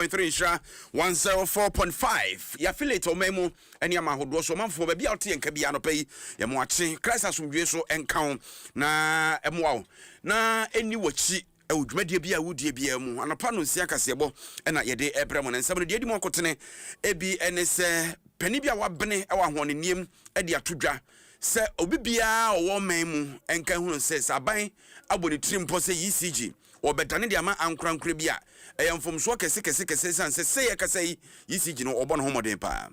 point three nhyira one zero four point five yɛafiliate ɔman mu ɛne ama ahodoɔ so ɔmanfoɔ baabi a wote yɛn ka bi anɔpa yi yɛn mo akye christ asomdwoe so ɛnka wo na ɛmoa wo na ɛni w'akyi ɛwɔ dwumadie bi a wodie biara mu anɔpa no nsia kaseɛbɔ ɛna yɛde ɛbrɛ mo no nsɛm no deɛ ɛdi mu akotene ebi ɛne sɛ panin bi a wabene ɛwɔ ahoɔnenneɛm ɛde ato dwa sɛ obi biara ɔwɔ man mu ɛnka hunu sɛ sɛ aban abɔ ne tiri mpɔ sɛ ecg wɔbɛdane de ama ankorankorɛ bi a ɛyɛ mfomsoɔ kɛse kɛse kɛse ɛsiane sɛ sɛ yɛkasa yi ECG no ɔbɔ ne ho mmɔden paa.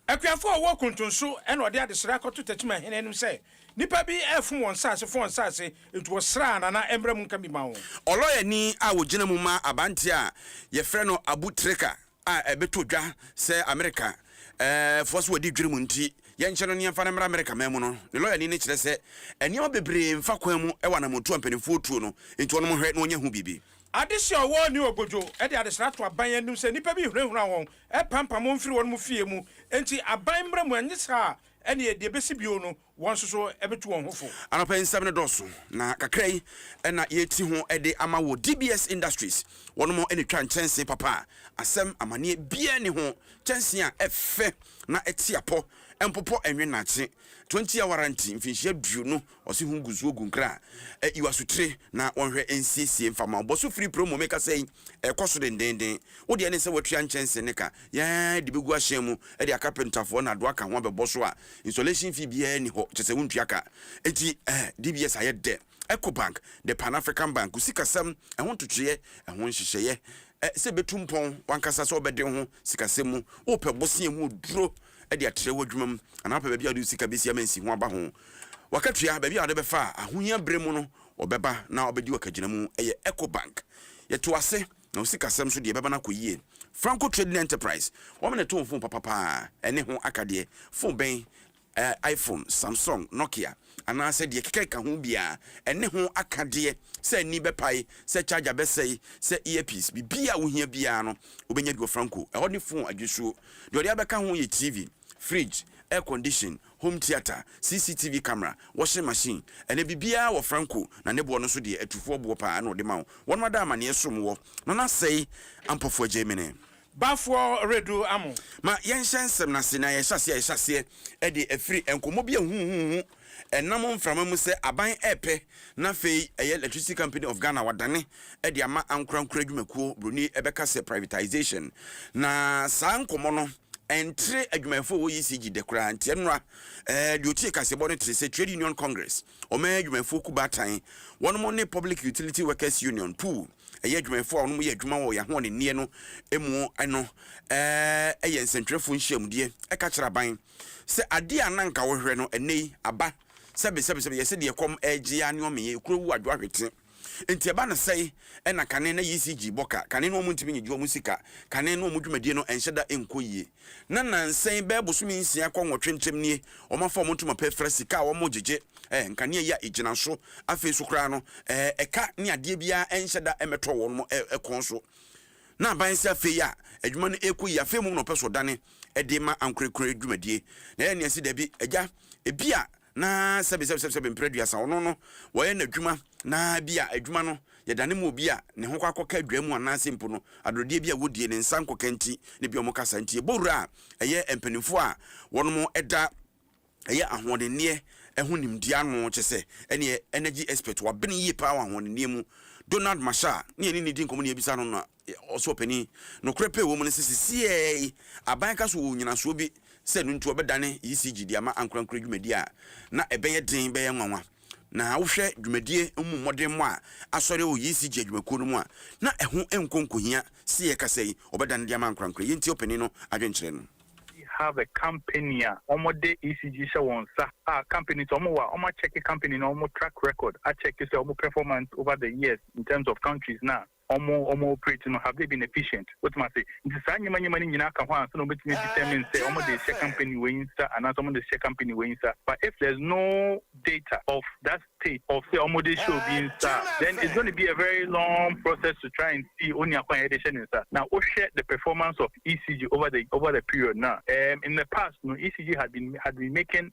Akuafoɔ a ɔwɔ kuntunso na ɔde adesrɛ akɔto Techiman hene anim sɛ nnipa bi refom wɔn nsaase fom wɔn nsaase nti wɔsrɛ a Nana ɛmmra mu nka bi ma wɔn. Ɔlɔyani a ɔgyina mu ma abanteɛ a yɛfrɛ no Abu Trika a ɛbɛtɔ dwa sɛ Amerika foɔ so wɔdi dwiri mu nti, yɛnkyɛ no ne yɛmfa no mmra Amerika man mu no, ne lɔyani no kyerɛ sɛ nneɛma bebree mfa kwan mu wɔ anamɔntuo a mpaninfoɔ tuo no nti wɔnom nhwɛ na wɔnyɛ ho biribi. Adesua Ɔwɔɔ ne Ogojo de adesrɛ ato aban anim sɛ nnipa bi hunahuna wɔn, pampam wɔn firi wɔnom fie mu, nti aban mmra mu anyɛ saa a ɛneɛ deɛ ɛbɛsi bio no wɔn nso so bɛtu wɔn ho fo. Anɔpa yi nsɛm no dɔɔso, na kakra yi na yɛreti ho de ama wɔ DBS Industries. Wɔnom na ɛtwa nkyɛnsee papa a asɛm, amanneɛ, biara nni ho, kyɛnsee a ɛfɛ na ɛte apɔ, ɛmpopɔ, ɛnwe nnakye, 20 year warranty, mfinhyia aduonu, wɔse ho gu zuo gu nkra a, yi w'asotire na wɔnhwɛ nsiesie mfa ma wo. Bɔ so firi promo, mekasa yi, ɛrekɔ so dendeenden. Wo deɛ ne sɛ woatua nkyɛnsee no ka. Yɛde bɛgu ahyɛn mu de akapentafoɔ na adoa ka ho abɛbɔ so a installation fee biara nni hɔ, kyerɛ sɛ wontua ka. Enti eh, DBS ayɛ dɛ. Ecobank, The Pan African Bank, wo sikasɛm, ɛho ntotoeɛ, ɛho nhyehyɛeɛ, eh, sɛ ɛbɛtu mpɔn, w'ankasa sɛ wobɛde wo ho sikasɛm mu, wopɛ bosea mu oduro de atrɛ w'adwuma mu, anaa wopɛ baabi a wode wo sika bɛsi ama nsiho aba ho w'akatua, baabi a wode bɛfa a ahohia berɛ mu no wɔbɛba na wɔabɛdi w'akagyinamu, ɛyɛ Ecobank. Yɛto ase. Na wo sikasɛm so deɛ ɛbɛba no akɔ yie. Franco Trading Enterprise, wɔn na ɛtɔn fon papa pa ara, ɛne ho aka deɛ, fon bɛn, eh, iPhone, Samsung, Nokia, anaasɛ deɛ ɛkeka ka ho biara, ɛne ho aka deɛ, sɛ ani bɛpae, sɛ charger bɛsɛe, sɛ earpiece, biribiara a wohia biara no, wobɛnya bi wɔ Franco. Ɛhɔ ne fon adwisuo. Deɛ ɔde abɛka ho yɛ TV. fridge, air condition, home theatre, CCTV camera, washing machine, ɛnɛ biribiara wɔ Franco na ne boɔ no nso deɛ atufoɔ boɔ paa na ɔde ma wo, wɔnom ada amaneɛ som wɔ, na no asɛe Ampɔfoɔ Agyemene. Bafoɔ redu amo. Ma yɛnhyɛ nsɛm no ase na yɛhyɛ aseɛ a yɛhyɛ aseɛ de afiri nkɔmmɔ bi a huhuhuhu ɛnam mframa mu sɛ aban repɛ na afei ɛyɛ Electricity Company of Ghana wadane de ama ankorankoro adwumakuo, Buroni bɛka sɛ privatisation, na saa nkɔmmɔ no. ɛntere adwumayɛfoɔ a ɛwɔ ECG dɛ koraa, nti ɛno ara, ɛɛ, deɛ ɔtie kaseɛbɔ no tere sɛ Trade Union Congress, Ɔman Adwumayɛfoɔ Ku Baatan, wɔnom ne Public Utility Workers Union, puu, ɛyɛ adwumayɛfoɔ a wɔnom yɛ adwuma wɔ yɛn ahoɔdenneɛ no mu no, ɛɛ, yɛ nsɛntwerɛfoɔ nhyiamudeɛ, ɛka kyerɛ aban sɛ adeɛ a na nka wɔhwehwɛ no, ɛnnɛ yi, aba, sɛbesɛbesɛbe, yɛse deɛ ɛkɔm ɛregye ara ne ɔmenyɛ, ekuro awu adwo ahwete. Nti ɛba no sɛn na kane na ECG bɔ ka, kane na wɔntumi nyegye wɔn sika, kane na wɔn dwumadie no nhyɛ da nkɔ yie. Na nansa yi bɛyɛ bosome nsia kɔ nwɔtwe ntam nie, wɔafa wɔn ntoma pɛ fra sika a wɔgyegye, eh, nkanea yi a ɛgyina so, afei nso koraa no, eh, ɛka ne adeɛ biara nhyɛ da mmɛtɔ wɔn eh, kɔn so. Na aban sɛ afei a adwuma no ɛrekɔ yie, afei mmom na ɔpɛ sɛ ɔdane de ma ankorɛkorɛ dwumadie. Na yɛn nne si dabi, agya, ebia Na sɛbesɛbesɛbesɛbe mprɛ aduasa, ɔno no, wɔyɛ no adwuma, na bi a adwuma no, yɛdane ma obi a ne ho kɔ akɔka adwaa mu anaase mpo no, adorodeɛ bi a wɔdie, ne nsa nkɔka nti, ne bi a wɔka saa nti. Yɛbɔ wura a ɛyɛ mpaninfoɔ a wɔnom da ɛyɛ ahoɔdenneɛ ho nimdeɛ ano, kyɛsɛ, ɛneɛ energy expert, wabene yie paa wɔ ahoɔdenneɛ mu, Donald Marshall, ne yɛne no di nkɔmmɔ ne yɛbisa no na. Ɔsoro Panin, nokorɛ pɛ wɔ mu ne sɛ sesieɛ yi aban ka so wɔ nyinasoɔ bi sɛ ɛno nti wɔbɛdane ECG de ama ankorankorɛ dwumadie a na ɛbɛyɛ den bɛyɛ nwanwa. Na wohwɛ dwumadie no mu mmɔdemmɔ a asɔre wɔ ECG adwumakuo no mu a, na ɛho nkɔ nkɔhia sɛ yɛrekasa yi wɔbɛdane de ama ankorankorɛ. Yei nti ɔpanin no adwenkyerɛ no. We have a company a wɔde ECG hyɛ wɔn nsa a company nti wɔwɔ a wɔakyɛke company no wɔn track record akyɛke sɛ wɔn performance over the years in terms of countries no a Wɔn wɔn operate no have they been efficient? Wotumi ase? Nti saa nneɛma nneɛma no nyinaa ka ho ansa na wɔbɛtumi a determine sɛ wɔn de rehyɛ company wei nsa anaasɛ wɔn de rehyɛ company wei nsa. But if there's no data of that state of sɛ wɔn de rehyɛ obi nsa a, then it's gonna be a very long process to try and see onua ko a yɛde rehyɛ ne nsa. Na wohwɛ the performance of ECG over the over the period no a, um in the past no ECG had been had been making.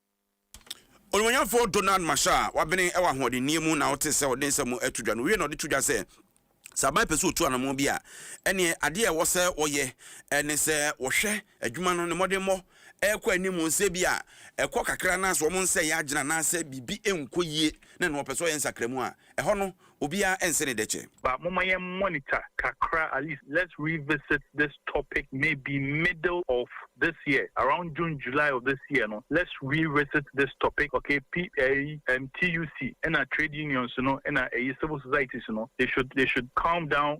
Onuonyamfo Donald Marshall a wabene wɔ ahoɔdenneyɛ mu na ɔte sɛ ɔde nsɛm to dwa no wiei na ɔde to dwa sɛ, Sɛ aban pɛ sɛ otu anammɔn bi a, ɛnneɛ adeɛ a ɛwɔ sɛ wɔyɛ ne sɛ wɔhwɛ adwuma no ne mmɔdemmɔ rekɔ anim no, sɛ ebia ɛkɔ kakra anaasɛ wɔn nsa reyɛ agyina anaasɛ biribi nkɔ yie na nea wɔpɛ sɛ wɔyɛ nsakramu a, ɛhɔ no Obiara nse ne dɛkyɛ. But momma yɛn monitor kakra at least let's revisit this topic maybe middle of this year around June July of this year no let's revisit this topic ok P ɛyi ɛm TUC ɛna trade unions no ɛna ɛyi civil societies no they should they should calm down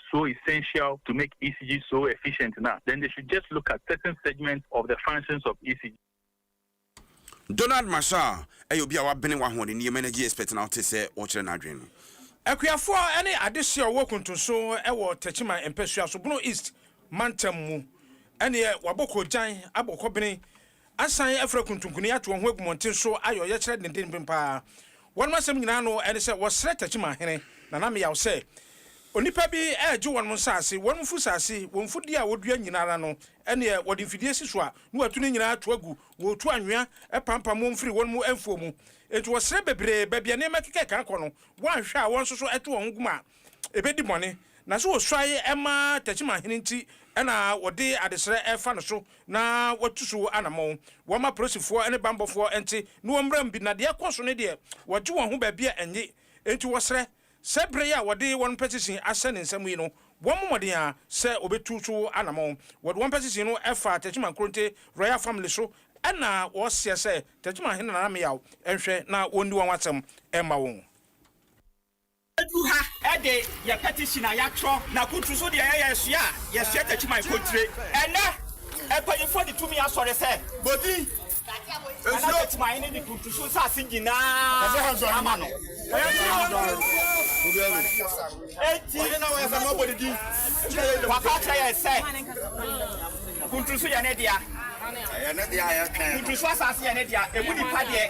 so essential to make ECG so efficient no a, then they should just look at certain segments of the functions of ECG. Donald Marshall yɛ obi a wabene wɔ ahoɔdenneyɛ mu, energy expert, na wote sɛ ɔrekyerɛ n'adwene no. Akuafoɔ ne adehyeɛ a wɔwɔ Kuntunso wɔ Techiman mpasua so, Bono East mantam mu, ɛneɛ wabɔ koogyan abɔ kɔbene Asan afura kuntunkuni ato wɔn ho agu mmɔnten so ayɛ ɔyɛkyerɛ dendenben paa. Wɔnom asɛm nyinaa no ɛne sɛ wɔsrɛ Takyimanhene, Nana Meyaw, sɛ onipa bi regye wɔnom nsaase, wɔnom mfusaase, wɔn mfudie a wɔdua nyina ara no, ɛneɛ wɔde mfidie si so a na watu ne nyina ara to agu, wɔretu anwea pampam wɔn firi wɔnom mfuo mu. Enti wɔsrɛ bebree, baabi a nneɛma keka keka rekɔ no, wɔanhwɛ a wɔn nso so ɛto wɔn ho gu ma ebedi bɔne. Na sɛ osuae ma Tesom ahene nti na wɔde adesrɛ refa no so na watu so anammɔn. Wɔmma polisifoɔ ne bammɔfoɔ nte ne wɔn mmram bi, na deɛ ɛkɔ so no deɛ, wɔgye wɔn ho baabi a ennye. Enti wɔsrɛ sɛ berɛ yi a wɔde wɔn pɛ sisin ahyɛ ne nsam yi no, wɔmmɔ mmɔden ara sɛ wɔbɛtu so anammɔn. Wɔde wɔn pɛ sisin no fa Tesom Ankoronte Royal Family so na wɔseɛ sɛ Tesom ahene Nana Meyaw nhwɛ na wɔnni wɔn asɛm mma wɔn. Yɛadu ha de yɛn petition a yɛatwerɛ no akuturu so deɛ ɛyɛ yɛn sua a yɛsua takyi ma mpontire. Ɛnnɛ, mpaninfoɔ de tumi asɔre sɛ Bodin Nana Takyimaahene de Kuntusu nsase nyinaa ama no. Enti, waka akyerɛ yɛn sɛ Kuntusu yɛ ne dea. Kuntusu asase yɛ ne dea. Ɛmu nnipa deɛ.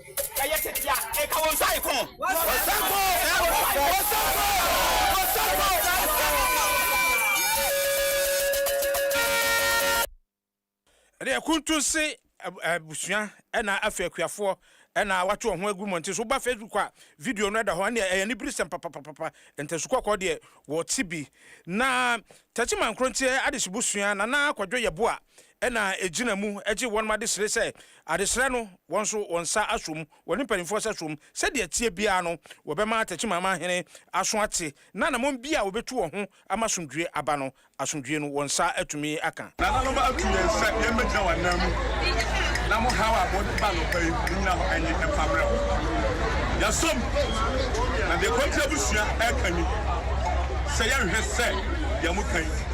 Ɛyɛ tete a, ɛka wɔn nsa rekɔ. Wɔsan kɔ. Wɔsan kɔ. Wɔsan kɔ. Ɛde akuntun se abusua ɛna afei akuafoɔ ɛna wato wɔn ho agu mmɔnten so. Woba Facebook a video no ɛda hɔ. Ɛne ɛyɛ aniberesɛm papapapapa. Ntasu kɔkɔɔ deɛ wɔte bi. Na Takyi Mankronteɛ Adehye Busua Nana Kwadwo Yeboah na egyina mu gye wɔnom adesrɛ sɛ adesrɛ no wɔn nso wɔn nsa asɔ mu, wɔne mpaninfoɔ nsa sɔ mu, sɛdeɛ ɛteɛ biara no wɔbɛma Tɛkyimaamaa hene aso ate, na anamɔn biara a wɔbɛtu wɔn ho ama asomdwoeɛ aba no, asomdwoeɛ no wɔn nsa atumi aka. Nananom atu yɛn sɛ yɛn bɛgyina wɔn nan mu, na mo haw a mo de ba anɔpa yi, mo nyina hɔ ɛnye ɛmfa mmerɛ wɔn. Yɛasɔ mu, na deɛ Kɔnte abusua ɛreka ni, sɛ yɛnhwɛ sɛ deɛ mo ka yi,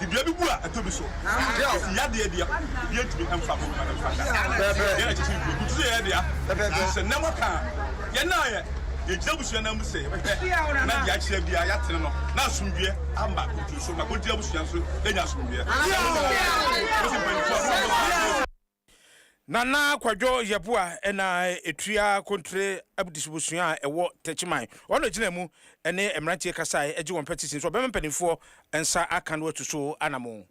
De dua bi gu a ɛtɔ bi so. Esi yadeɛ dea, obiara ntumi mfa ho mma no mfa nda. Yɛn na kyekyere dua. Butu sɛ yɛyɛ dea. Nanso sɛ nnɛ moka a, yɛn a yɛgyina abusua nan mu sɛ yɛbɛhwɛ na deɛ akyea biara yɛatene no na asomdwoeɛ aba kuntu so na Kontiri abusua nso anya asomdwoeɛ. Mose mpaninfoɔ a, mommɔ saa mpaeɛ yi. Nana Kwadwo Yeboah na etua Kontre Abdis Abusua a ɛwɔ Techiman. Ɔno na egyinaa mu ne mmeranteɛ kasae gye wɔn pɛtisin sɛ ɔbɛma mpanimfoɔ nsa aka no atu so anamon.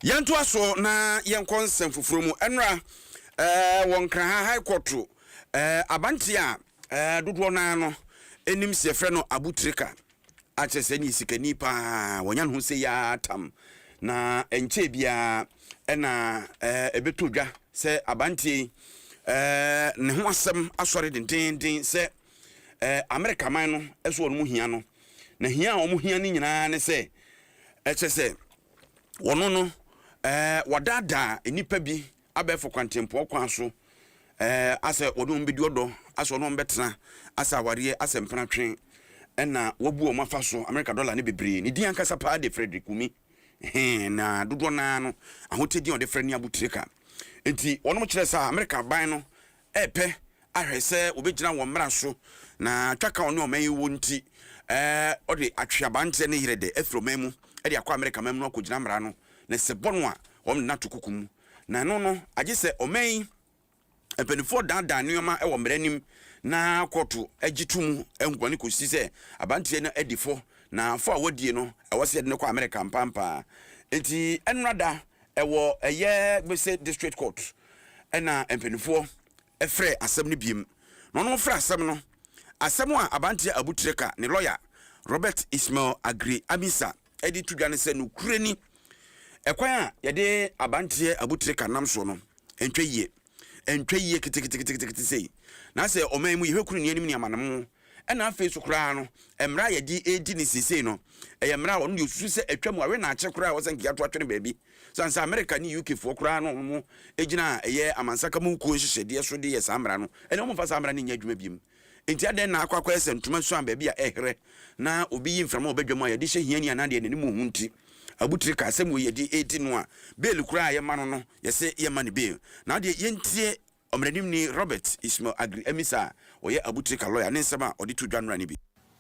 Yɛntoa so na yɛnkɔ nsɛm foforɔ mu. Nnora wɔ Nkraha High Court, abanteɛ a dodoɔ no ara no nim sɛ yɛfrɛ no Abu Trika akyerɛ sɛ ɛneɛ sikani paa wɔnya ne ho sei ara tam na ɛnkyɛɛ biara ɛna ɛbɛtɔ dwa sɛ abanteɛ yi ne ho asɛm asɔre dendeenden sɛ Amerika man no ɛso wɔn mu hia no na hia a wɔn hia no nyinaa ne sɛ ɛkyɛ sɛ wɔn no wɔdaadaa nnipa bi abɛɛfo kwantempɔn kwan so eh, asɛ wɔne wɔn bɛdi ɔdɔ, asɛ wɔne wɔn bɛtena, asɛ awareɛ, asɛ mpena twe, ɛna wɔabu wɔn afa so, Amerika dɔla ne bebree. Ne din ankasa paa de Frederick Wumi, he, na dodoɔ no ara no, ahotedin a wɔde frɛ ne abotire ka. Enti wɔnom kyerɛɛ sɛ a Amerika aban no repɛ ahwɛ sɛ wɔbɛgyina wɔn mmara so, na twaka a ɔne ɔman yi wɔ nti, ɔde atwe aberanteɛ ne yere de afiri ɔman mu de akɔ Amerika man mu na wakɔgyina mmara no ne sɛ bɔ no a, wɔde no ato kuku mu. Na ɛno no, agye sɛ ɔman yi mpanimfoɔ daadaa nneɛma wɔ mmara anim na kɔɔto gye to mu nkoa no kɔsi sɛ aberanteɛ no adi fɔ, na fɔ a wadie no, ɛwɔ sɛ yɛde no kɔ Amerika ampampaa. Enti ɛnnora da Ɛwɔ ɛyɛ Gbese District Court na mpaninfoɔ frɛɛ asɛm no biom. Na wɔnom frɛ asɛm no asɛm a Abanteɛ Abu Treka ne lɔya Robert Ismail Aggrey Amisa de to dwa ne sɛ nokorɛ ni ɛkwan a yɛde Abanteɛ Abu Treka nam soɔ no ntwa yie. antwa yie keteketekete sei, na sɛ ɔman mu yɛhwɛ kuro nnuanim ne amanemu, ɛna afei so koraa no mmerɛ a yɛde redi ne seesei no ɛyɛ mmerɛ a ɔno deɛ ɔsusu sɛ atwa mu awe na akyɛ koraa wɔ sɛ nka yɛato atwene baabi sane sɛ Amerika ne UK foɔ koraa no ɔmo gyina ɛyɛ amansaka mu kuo nhyehyɛdeɛ so de yɛ saa mmara no ɛne ɔmo mfa saa mmara no nyɛ adwuma biom Enti adɛn na akɔ akɔyɛ sɛ ntoma suan baabi a ɛherɛ na obi yi mframa wɔ badwam a yɛde hyɛ hiani anaa deɛ n'anim nhu nti? Abotire ka, Sɛ mmom yɛde redi no a, beel koraa a yɛma no no, yɛsɛ yɛmma no beel. Na wo deɛ yɛntie Ɔmmaranimni Robert Ismail Aggrey Amissah a ɔyɛ abotire ka lɔya ne nsɛm a ɔde too dwa nnora no bi.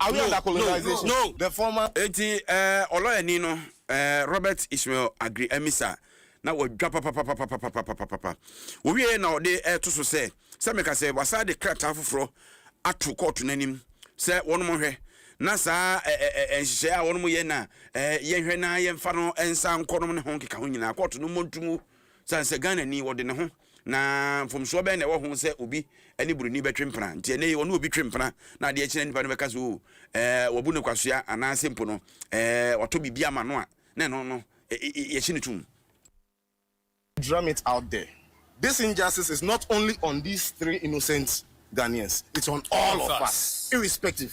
Are we under colonization? No, no. The former. Enti eh, ɔlɔyani no, eh, Robert Ishmael Aggrey Amisa, na wadwa papapapapapapapapapa. Owiei na ɔde reto so sɛ, sɛ meka sɛ wɔasan de krataa foforɔ ato kɔɔto no anim sɛ wɔnhwɛ na saa eh, eh, eh, nhyehyɛeɛ a wɔyɛ na eh, yɛnhwɛ na yɛmfa no nsa nkɔ no ne ho nkeka ho nyinaa, kɔɔto no mmɔ ntom o, sane sɛ Ghanani, wɔde ne ho. Na mfomsoɔ bɛn na ɛwɔ ho sɛ obi ne buroni bɛtwe mpena? Nti ɛnnɛ yi ɔne obi twe mpena na adeɛ kye na nnipa no bɛka sɛ oo ɛɛ wabu no kwasea anaasɛ mpo no ɛɛ watɔ biribi ama no a na ɛno no yɛhye no tom. Drum it out there, this injustice is not only on these three innocent Ghanaians, it's on all of us irrespective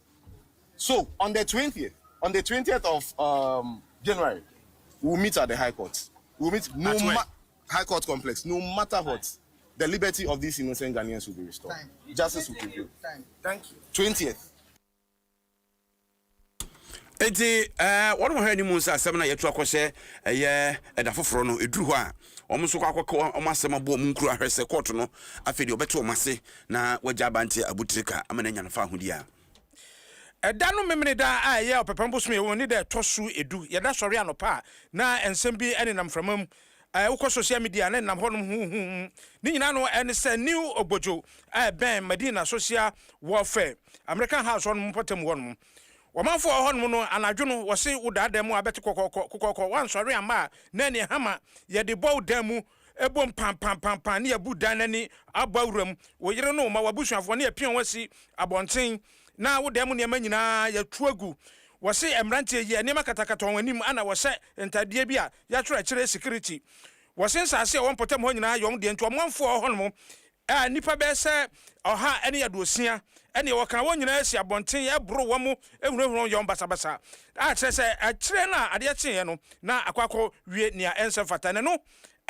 So on the twentieth on the twentieth of um, January we'll meet at the high court we'll meet no ma high court complex no matter what the liberty of these innocent Ghanaians will be restored. Time. Justice will prevail. Time. Thank you. 20th. Eti eh, wɔn wɔn hɛ ni mu nsa asɛm na yɛtu akɔhyɛ ɛyɛ ɛda foforɔ no eduru hɔ a wɔn nso kɔ akɔka wɔn asɛm abɔ wɔn nkuro ahwɛ sɛ kɔɔto no afei deɛ ɔbɛte wɔn ase na wagya abanteɛ abutirika ama no anya no fahodeɛ a Ɛda no Memeneda a ɛyɛ ɔpɛpɛm bosome a ɛwɔ mu ne da a ɛtɔ so edu. Yɛda sɔre anɔpa a, na nsɛm bi nenam mframa mu. Eh, wokɔ sosial media a, na ɛnenam hɔnom huhuuhu. Ne nyinaa no, ɛne sɛ new ogbodwo a ɛbɛn Madina Social Warfare, American House hɔnom mpɔtam hɔnom. Ɔmanfo a ɔwɔ hɔnom no, anadwo no, wɔse wo daa dan mu a, abɛte kɔkɔɔkɔ, kokɔɔkɔ, woansɔre amma a, na ɛneɛ hama, yɛde bɔ wo dan mu, bom pampampampaa, ne yɛabu dan no ani abɔ awura mu, wo yere ne wo mma, w'abusuafoɔ, ne yɛapia wɔn asi abɔnten, na wo dan mu nneɛma nyinaa, yɛatu agu. Wɔse mmeranteɛ yi, nneɛma katakata wɔn anim, ɛna wɔhyɛ ntadeɛ bi a yɛatwerɛ akyire Security. Wɔse nsase a ɛwɔ mpɔtam hɔ nyinaa yɛ wɔn deɛ, nti ɔmanfo a ɔwɔ hɔnom a nnipa bɛyɛ sɛ ɔha ne aduosia ne wɔ kan wɔn nyinaa si abɔnten boro wɔn hunahuna wɔn yɔn basabasa a kyerɛ sɛ akyire no a adeɛ kyeeɛ no na akɔ akɔ wie nea ɛnsɛ mfata na ɛno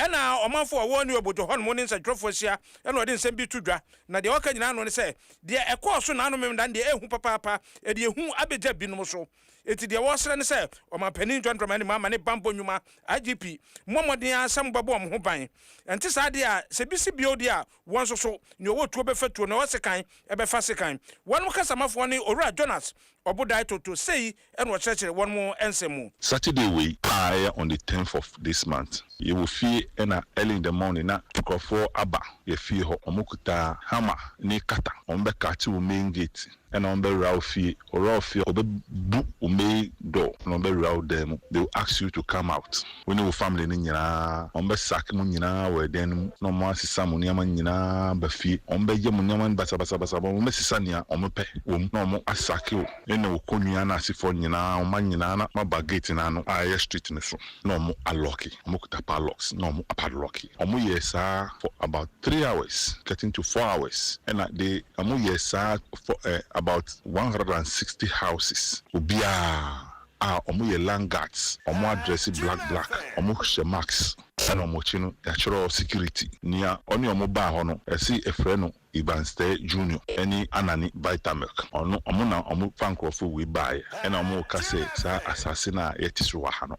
na ɔmanfo a ɔwɔ New Abodjo hɔnom ne nsɛntwerɛfoɔ ahyia na ɔde nsɛm bi to dwa na deɛ ɔka nyinaa no ne sɛ deɛ ɛkɔɔ so nanom na deɛ ɛhu papaapa deɛ ɛhu abɛgya binom so. Enti deɛ wɔsrɛ ne sɛ Ɔmanpanin John Dramani Mahama ne Bammɔ Nnwuma, IGP, mmɔ mmɔden ara sɛ mobɛbɔ wɔn ho ban. Ɛnte saa deɛ a, sɛ bi si bio deɛ a, wɔn nso so, nea ɔwɔ tuo bɛfa tuo, nea ɔwɔ sekan bɛfa sekan. Wɔnom kasamafoɔ ne Owura Jonas Ɔbodae Toto sei na ɔkyerɛkyerɛ wɔnom nsɛm mu. Saturday wei a ɛyɛ on the tenth of this month, yɛwɔ fie na early in the morning na nkorɔfoɔ aba yɛ fie hɔ, wɔkuta hammer ne cutter, wɔbɛkate wo main gate. Ɛna wɔbɛwera wo fie. Wɔwera wo fie a, wɔbɛbu wo main door na wɔbɛwera wo dan mu. They will ask you to come out. Wo ne wo family no nyinaa, wɔbɛsake mo nyinaa wɔ dan no mu na wɔasesa mo nneɛma nyinaa aba fie. Wɔbɛyɛ mo nneɛma no basabasabasa. Wɔbɛsesa nea wɔpɛ wɔ mu na wɔasake wo ne wo kɔnnua no asefoɔ nyinaa, wo mma nyinaa na moaba gate no ano a ɛyɛ street no so. na ɔmo a lɔki, ɔmo kuta padlocks na ɔmo a padlocki, ɔmo yɛɛ saa for about three hours getting to four hours ɛna de ɔmo yɛɛ saa for eh about one hundred and sixty houses obiaa a ɔmo yɛ land guards ɔmo adrɛse black black ɔmo hyɛ mask ɛna ɔmo akyi no yatwerɛ security nea ɔne ɔmo baa hɔ no ɛse yɛfrɛ no Iban Stare Junior ɛne Anani Vitamilk ɔno ɔmo na ɔmo fa nkorɔfoɔ wei baeɛ ɛna ɔmo reka sɛ saa asaase no a yɛte so wɔ ha no.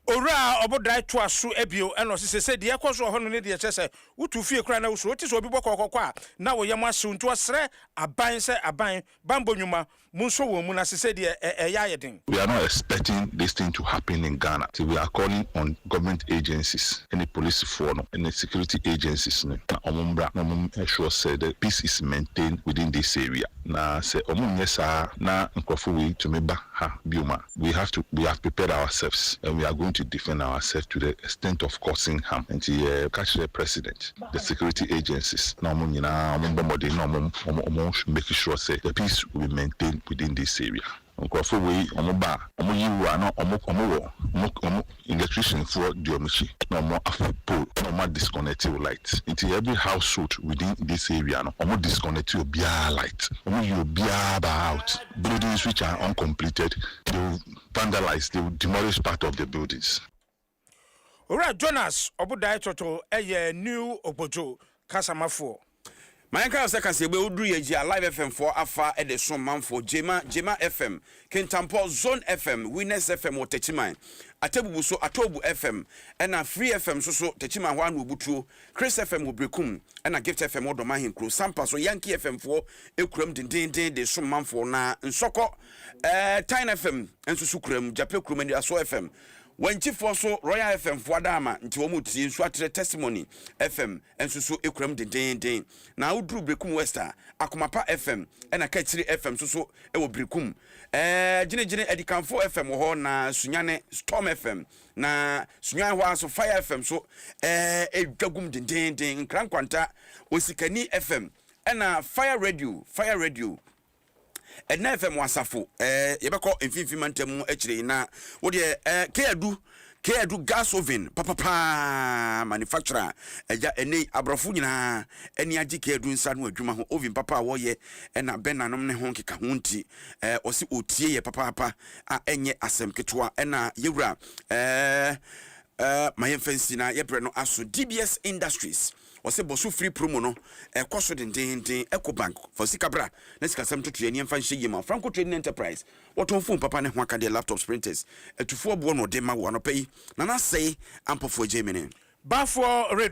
Owura Ɔbodae toa so bio ɛna ɔse sesei deɛ ɛkɔ so wɔ hɔ no ne deɛ kyerɛ sɛ wotu fie koraa na wosuro, wote sɛ obi bɔ kɔkɔkɔ a na wo yam ahyew nti ɔsrɛ aban sɛ aban banbɔ nwuma Monsɔ wɔn mu no ase sɛdeɛ ɛyɛ ayɛ den. We are not expecting this thing to happen in Ghana nti we are calling on government agencies ɛne polisifoɔ no ɛne security agencies no na wɔn mmra na wɔn ensure sɛ the peace is maintained within this area na sɛ wɔn nnyɛ saa na nkorɔfoɔ wei tumi ba ha biom a, we have to we have prepared ourselves and we are going to defend ourselves to the extent of causing harm nti yɛ ka kyerɛ president the security agencies na wɔn nyinaa wɔn bɔ mmɔden na wɔn wɔn wɔn make sure sɛ the peace will be maintained within this area nkorɔfo wei wɔn ba a wɔn yi wo a na wɔn wɔn wɔ wɔn wɔn. electrician foɔ di ɔmo akyi na ɔmo afa pole na ɔmo a disconnect wo light nti every household within this area no ɔmo disconnect obiara light ɔmo yi obiara ba out buildings which are uncompleted they will vandalise they will demolish part of the buildings. Owura Jonas Ɔbodae Toto yɛ New Okpotso kasamafoɔ. Ma yɛnka no sɛ kaseɛbɔ yi oduru yɛn gye a Live FM foɔ afa de som manfoɔ, Gyema, Gyema FM, Kintampɔ, Zone FM, Winners FM wɔ Takyiman, Atebubu so, Atoobu FM, ɛna Free FM nso so, Takyiman hɔ ara na wɔbutuo, Chris FM wɔ Berekum, ɛna Gift FM wɔ Dɔma Ahenkuro, Sampa so, Yankee FM foɔ kura mu dendeenden de som manfoɔ, na Nsɔkɔ, ɛɛ, Tyne FM nso so kura mu, Gyapɛ kurom, Anidasoɔ FM, Wanchi foɔ so Royal FM foɔ adaama nti wɔn retie nso atrɛ Testimony FM nso so kura mu dendeenden na woduru Berekum West a Akoma pa FM ɛna Kakyire FM nso so wɔ Berekum ɛɛ Gyene-gyene Adikanfo FM wɔ hɔ na Sunyane Storm FM na Sunyane hɔ ara nso Fire FM nso ɛɛ dwa gum dendeenden Nkra Nkwanta Osikani FM ɛna Fire Radio Fire Radio Ɛnɛ FM asafo ɛɛ yɛbɛkɔ mfimfini mantam mu akyire yi na wo deɛ ɛɛ K-Adu K-Adu gas oven papapaa manufacturer agya ɛnɛ yi aborɔfo nyinaa ani agye K-Adu nsa ano adwuma ho oven papa a wɔyɛ ɛna Bernard nom ne ho nkeka ho nti ɛɛ ɔsi ɔtie yɛ papaapa a ɛnyɛ asɛm ketewa ɛna yɛwura ɛɛ ɛɛ ma yɛmfa nsi na yɛbrɛ no aso DBS Industries. Ɔse bɔso free promo no ɛkɔ so dendennden Eco bank fa osika bra na sikasɛm ntotoeɛ ne yɛmfa nhyɛ yie ma wo Franco trading enterprise wɔtɔn phone papa ne ho akadeɛ laptops printers atufoɔ boɔ na ɔdema wo anɔpa yi Nana Asɛe ampɔfoɔ Gyamine bafoɔ redu.